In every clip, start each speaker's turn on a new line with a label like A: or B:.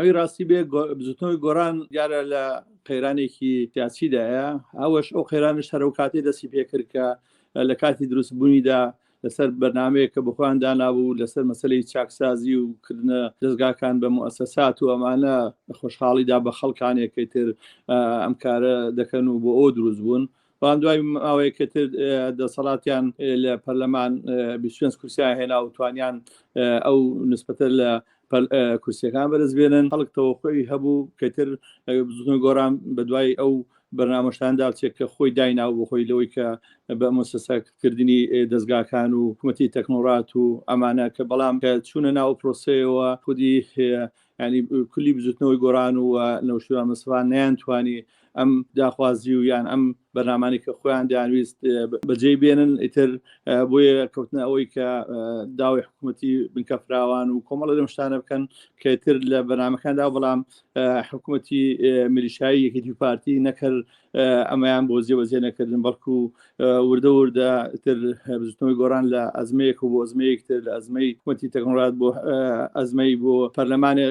A: ئەوی ڕاستی بێ بزوتنەوەی گۆران دیارە لە قەیرانێکی سیاسیدایە ئەوەش ئەو قەیرانە شەرە و کاتی دەسی پێکرد کە لە کاتی دروستبوونیدا لەسەر بەنامەیە کە بخۆیان دانابوو لەسەر مەسلەی چاکسازی و کردنە دەستگاکان بە موسەسات و ئەمانە خۆشحاڵیدا بە خەڵکانێکی تر ئەم کارە دەکەن و بۆ ئەو دروست بوون بەڵام دوای ماوەیەکە تر دەسەڵاتیان لە پەرلەمان بیست و پێنج کورسییان هێنا و توانیان ئەو نسبەتە لە کورسیەکان بەرز بێنن خەڵک تەوەقعی هەبوو کەتر زون گۆران بە دوای ئەو بەرنامەشتان داچێت کە خۆی داینا و بخۆی لەوەی کە بە مۆسەسەکردنی دەستگاکان و حکوومەتی تەکنۆرات و ئەمانە کە بەڵام کە چوونە ناو پرۆسەیەوە خودی یعنی کولی بزوتنەوەی گۆران و نەوشیروان مستەفا نەیانتوانی ئەم داخوازی و یان ئەم بەرنامانی کە خۆیان دەیانویست بەجێی بێنن ئیتر بۆیە کەوتنە ئەوەی کە داوای حکوومەتی بنکە فراوان و کۆمەڵە لەم شتانە بکەن کەتر لە بەنامەکاندا بەڵام حکوومەتی مریشایی یەکێتی پارتی نەکرد ئەمەیان بۆ جێبەجێ نەکردن بەڵکو وردە وردە تر بزنەوەی گۆران لە ئەزمەیەک و بۆ ئەزمەیەک تر لە ئەزمەی وتی تەکنۆلات بۆ ئەزمەی بۆ پەرلەمانێ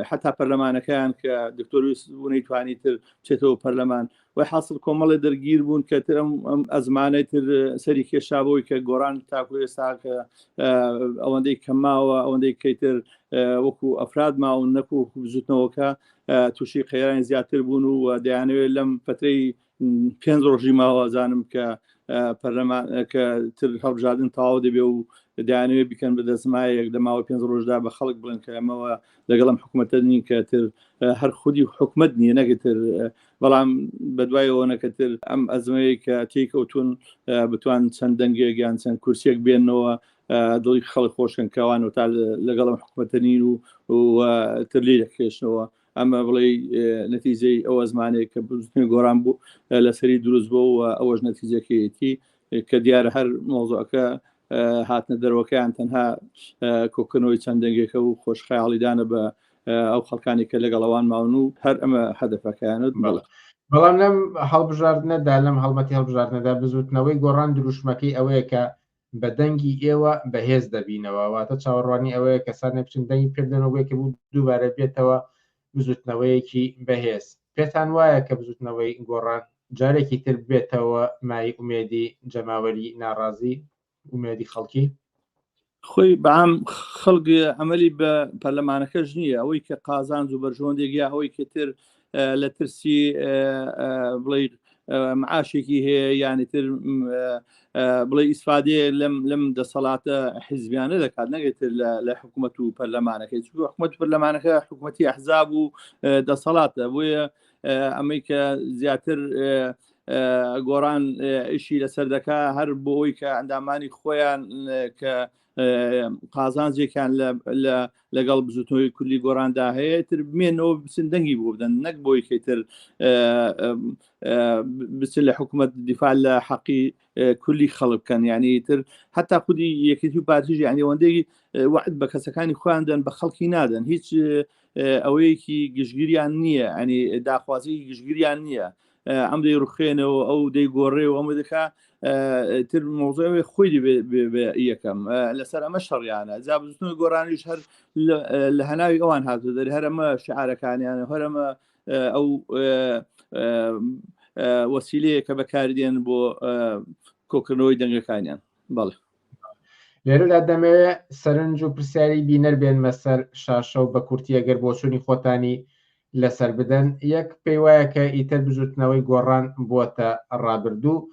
A: حتا پەرلەمانەکەیان کە دکتۆرویس بوونەی توانی تر چێتەوە پەرلەمان و حاصل کۆمەڵی دەرگیر بوون کە تر ئەم ئەزمانەی تر سەری کێشابەوەی کە گۆران تاکو ئێستا کە ئەوەندەی کەماوە ئەوەندەی کەیتر وەکو ئەفراد ماون نەکو بزوتنەوەکە تووشی قەیرانی زیاتر بوون و دەیانەوێت لەم پەترەی پێنج ڕۆژی ماوازانم کە پەرلەمان کە تر هەڵبژاردن تەواو دەبێ و دانوێ بکەن بە دەسمایەک لە ماوە پێنج ڕۆژدا بە خەڵک بڵێن کە ئەمەوە لەگەڵم حکوومەتە نین کە تر هەر خودی حکومت نییە نەگەتر بەڵام بەدوای ئەوەنەکەتر ئەم ئەزمەیە کە تێکەوتون بتوان چەند دەنگێک یان چەند کورسێک بێنەوە دڵی خەڵک خۆشکن کەوان و تا لەگەڵم حکوومەتەنین و تر لێ دەکرێشنەوە ئەمە بڵێ نەتیجەی ئەو ئەزمانەیە کە بزنی گۆران بوو لەسەری دروست بۆ و ئەوەش نەتیجەکەیەتی کە دیارە هەر مۆزۆەکە هاتنە دەرەوەکەیان تەنها کۆکردنەوەی چەند دەنگێکە و خۆشخەیاڵیدانە بە ئەو خەڵکانی کە لەگەڵ ئەوان ماون و هەر ئەمە هەدەفەکەیانت بڵێ بەڵام
B: لەم هەڵبژاردنەدا لەم هەڵبەتی هەڵبژاردنەدا بزوتنەوەی گۆڕان دروشمەکەی ئەوەیە کە بە دەنگی ئێوە بەهێز دەبینەوە واتە چاوەڕوانی ئەوەیە کەسانێک بچن دەنگی پێ بدەن و بۆ یەکەم و دووبارە بێتەوە بزوتنەوەیەکی بەهێز پێتان وایە کە بزوتنەوەی گۆڕان جارێکی تر بێتەوە مای ئومێدی جەماوەری ناڕازی ئومێدی خەڵکی خۆی
A: بەام خەڵک ئەمەلی بە پەرلەمانەکەش نییە ئەوەی کە قازانج و بەرژۆندێک یا ئەوەی کەتر لە ترسی بڵێ معاشێکی هەیە یانیتر بڵێ ئیسفادێ لەم لەم دەسەڵاتە حیزبیانە دەکات نەگەێتتر لە حکوومەت و پەرلەمانەکەی چوو حکوومەت پەرلەمانەکە حکوومەتتی ئەحزاب و دەسەڵاتە بۆیە ئەمەی کە زیاتر گۆڕان ئیشی لەسەر دەکا هەر بۆ ئەوی کە ئەندامانی خۆیان کە قازانجێکیان لەگەڵ بزوتنەوەی کوردی گۆراندا هەیە تر بمێنەوە بچن دەنگی بۆ بدەن نەک بۆی کەتر بچن لە حکوومەت دیفاع لە حەقی کولی خەڵکەن یعنی تر حتا خودی یەکێتی و پارتیژ یانیوەندەی وعد بە کەسەکانی خواندن بە خەڵکی نادەن هیچ ئەوەیەکی گشتگیریان نییە ئەنی داخوازی گشتگیریان نییە ئەم دەی ڕخێنەوە ئەو دەی گۆڕێ و ئەمە دەکا تر مۆزەوێ خۆی یەکەم لەسەر ئەمە شەڕیانە جا بزنەوە گۆرانیش هەر لە هەناوی ئەوان هاتو دەر هەرەمە شعارەکانیانە هەرەمە ئەو وەسیلەیە کە بەکاردێن بۆ کۆکردنەوەی دەنگەکانیان بەڵێ لێرەدا
B: دەمەوێت سەرنج و پرسیاری بینەر بێنمە سەر شاشە و بە کورتی ئەگەر بۆچوونی خۆتانی لەسەر بدەن یەک پێی وایە کە ئیتر بزوتنەوەی گۆڕان بووەتە ڕابردوو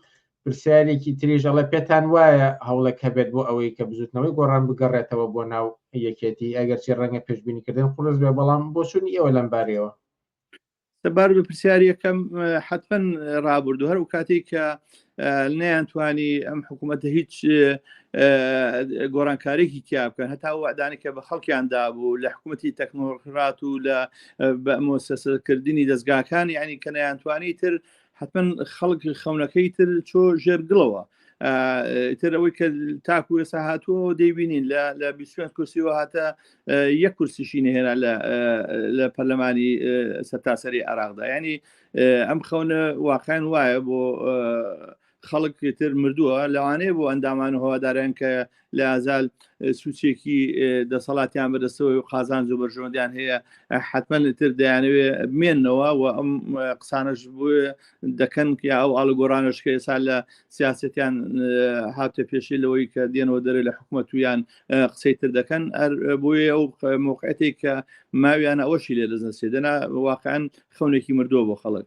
B: پرسیارێکی تریژەڵە پێتان وایە هەوڵێک هەبێت بۆ ئەوەی کە بزوتنەوەی گۆڕان بگەڕێتەوە بۆ ناو یەکێتی ئەگەرچی ڕەنگە پێشببینیکردن قرس بێ بەڵام بۆچوونی ئێوە لەم بارەوە سەبار
A: بە پرسیارەکەم حتمەن ڕابردو هەر و کاتێک کە نەیانتوانی ئەم حکوومەتە هیچ گۆڕانکارێکی تیا بکەن هەتا وادانی کە بە خەڵکیاندا بوو لە حکوومەتی تەکنۆڕات و لە مۆسەسەکردنی دەستگاکان ینی کە نەیانتوانی تر حتمەن خەڵک خەونەکەی تر چۆ ژێر گڵەوە تر ئەوەی کە تاکو ئێسا هاتووە دەیبینین لە لە بیسوێن کورسیەوە هاتە یەک کورسیشی نهێنا لە پەرلەمانی سەرتاسەری عراقدا ینی ئەم خەونە واقعیان وایە بۆ خەڵک تر مردووە لەوانەیە بۆ ئەندامان هەوادارن کە لە ئازال سوچێکی دەسەڵاتیان بەدەستەوەی و قازان زۆ بەرژەوەندیان هەیە حتمما تر دەیانەوێ بمێنەوە و ئەم قسانش بۆ دەکەن یا ئەو ئاڵگۆرانش کە ئێسا لە سیاستیان هاتە پێشی لەوەی کە دێنەوە دەرێ لە حکوومەت ویان قسەی تر دەکەن بۆیە ئەو موقعەتی کە ماویان ئەوەشی لێ دەزنسێ دەنا واقعەن خەونێکی مردووە بۆ خەڵک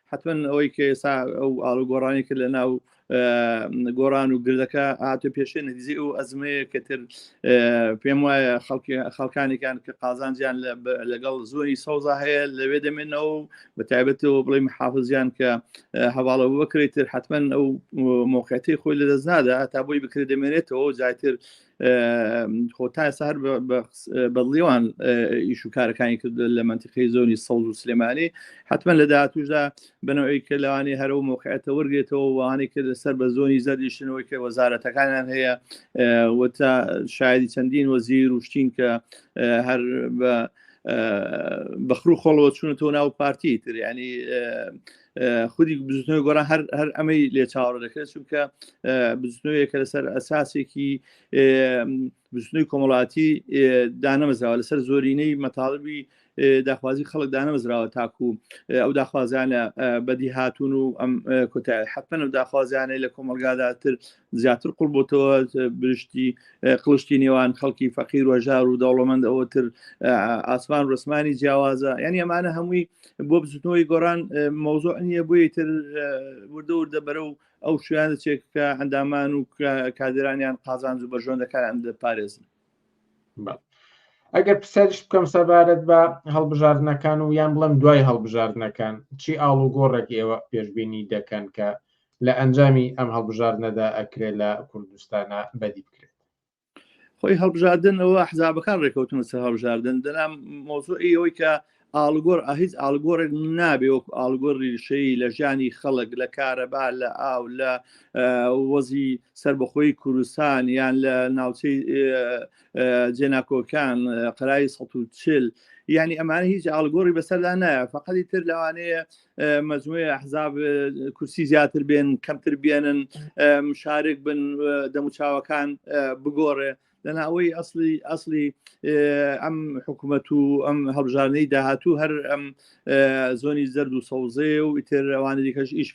A: حتمما ئەوەی کە ئێستا ئەو ئاڵو گۆڕانی کرد لە ناو گۆران و گردەکە هاتە پێشێ نەدیزی ئەو ئەزمەیە کە تر پێم وایە خەڵکانێکان کە قازانجیان لەگەڵ زۆری سەوزا هەیە لەوێ دەمێنەوە بە تایبەتەوە بڵێ محافزیان کە هەواڵە بکرێت تر حتمما ئەو مۆقعەتی خۆی لە دەست نادا تا بۆی بکرێت دەمێنێتەوە زیاتر خۆ تا ئێستا هەر بەدڵیوان ئیش و کارەکانی کرد لە منتیقی زۆنی سەوز و سلێمانی حتمما لە داهاتوشدا بنەوەی کە لەوانی هەرە و مۆقعەتە وەرگێتەوە وانەی کرد سەر بە زۆنی زەردیشتنەوەی کە وەزارەتەکانیان هەیە وتا شایدی چەندین وەزیر وشتین کە هەر بە بەخرو خۆڵەوە چونەتەوە ناو پارتی تر ینی خودی بزنەوەی گۆران هەر هەر ئەمەی لێ چاوەڕ دەکرێت چونکە بزنەوەیەکە لەسەر ئەساسێکی بزنەوەی کۆمەڵاتی دانەمەزراوە لەسەر زۆرینەی مەتاڵبی داخوازی خەڵک دانەمەزراوە تاکو ئەو داخوازانە بەدی هاتون و ئەم کۆتای حتممە و داخوازیانەی لە کۆمەلگاداتر زیاتر قوڵ بۆتەوە برشتی قلشتی نێوان خەڵکی فەقیر و ژار و دەوڵەمەند ئەوتر ئاسمان ڕسمانی جیاوازە یعنی ئەمانە هەمووی بۆ بزوتنەوەی گۆران مەوزوع نییە بۆیە تر وردە وردە بەرە و ئەو شویان دەچێت کە ئەندامان و کادرانیان قازانج و بەژۆندەکان دەپارێزن
B: ئەگەر پرسیارش بکەم سەبارەت بە هەڵبژاردنەکان و یان بڵم دوای هەڵبژاردنەکان چی ئاڵوگۆڕێک ئێوە پێشببینی دەکەن کە لە ئەنجامی ئەم هەڵبژاردنەدا ئەکرێت لە کوردستانە بەدی بکرێت خۆی
A: هەڵبژاردن ئەوە حزابەکان ڕێکەوتن سە هەڵبژاردن دەنام مۆزوعی ئەوەی کە ئاڵگۆر ئاهیز ئاڵگۆڕێک نابێ وەکو ئاڵگۆر ریشەی لە ژیانی خەڵک لە کارەبا لە ئاو لە وەزی سربەخۆی کوردستان یان لە ناوچەی جێناکۆکان قەرای 140 ینی ئەمانە هیچ ئاڵگۆری بەسەردا نایە فقەتی تر لەوانەیە مجموعی ئەحزاب کورسی زیاتر بێن کەمتر بێنن مشارک بن دەموچاوەکان بگۆڕێ لەنا ئەوەی ئەسلی ئەسلی ئەم حکوومەت و ئەم هەڵبژارنەی داهاتوو هەر ئەم زۆنی زەرد و سەوزێ و ئیتر ئەوانە دیکەش ئیش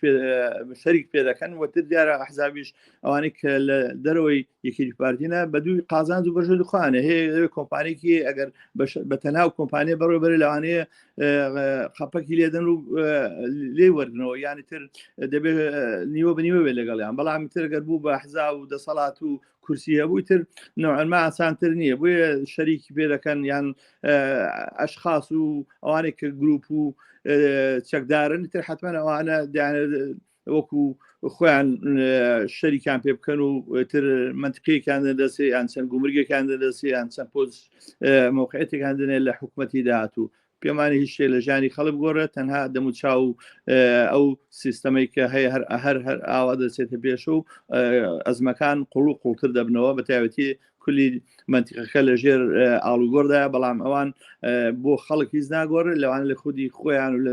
A: شەریک پێ دەکەن وەتر دیارە ئەحزابیش ئەوانەی کە لە دەرەوەی یەکی پارتینە بە دووی قازانج و بەژە دخوانە هەیە کۆمپانێکی ئەگەر بە تەناو کۆمپانیە بەڕێ بەرە لەوانەیە خەپەکی لێدەن و لێ وەرنەوە یانی تر دەبێت نیوە بنیوە بێت لەگەڵیان بەڵام تر گەر بوو بە حزا و دەسەڵات و کورسی هەبووی تر نەوەما ئاسانتر نییە بۆیە شەریکی پێ دەکەن یان ئەشخاص و ئەوانێک کە گروپ و چەکدارن تر حتمما ئەوانە وەکو خۆیان شەریکان پێ بکەن و تر منتقیەکان دەسێ یان چەند گومرگەکان دەسێ یان چەند پۆز مۆقعەتەکان دنێ لە حکوومەتی داهاتوو پێمانی هیچ شتێ لە ژانی خەڵک گۆڕێت تەنها دەم و چاو ئەو سیستەمەی کە هەیە هەر هەر هەر ئاوا دەچێتە پێش و ئەزمەکان قوڵ و قوڵتر دەبنەوە بە تایوەتی کولی منتیقەکە لە ژێر ئاڵوگۆردایە بەڵام ئەوان بۆ خەڵک هیچ ناگۆڕێت لەوان لە خودی خۆیان و لە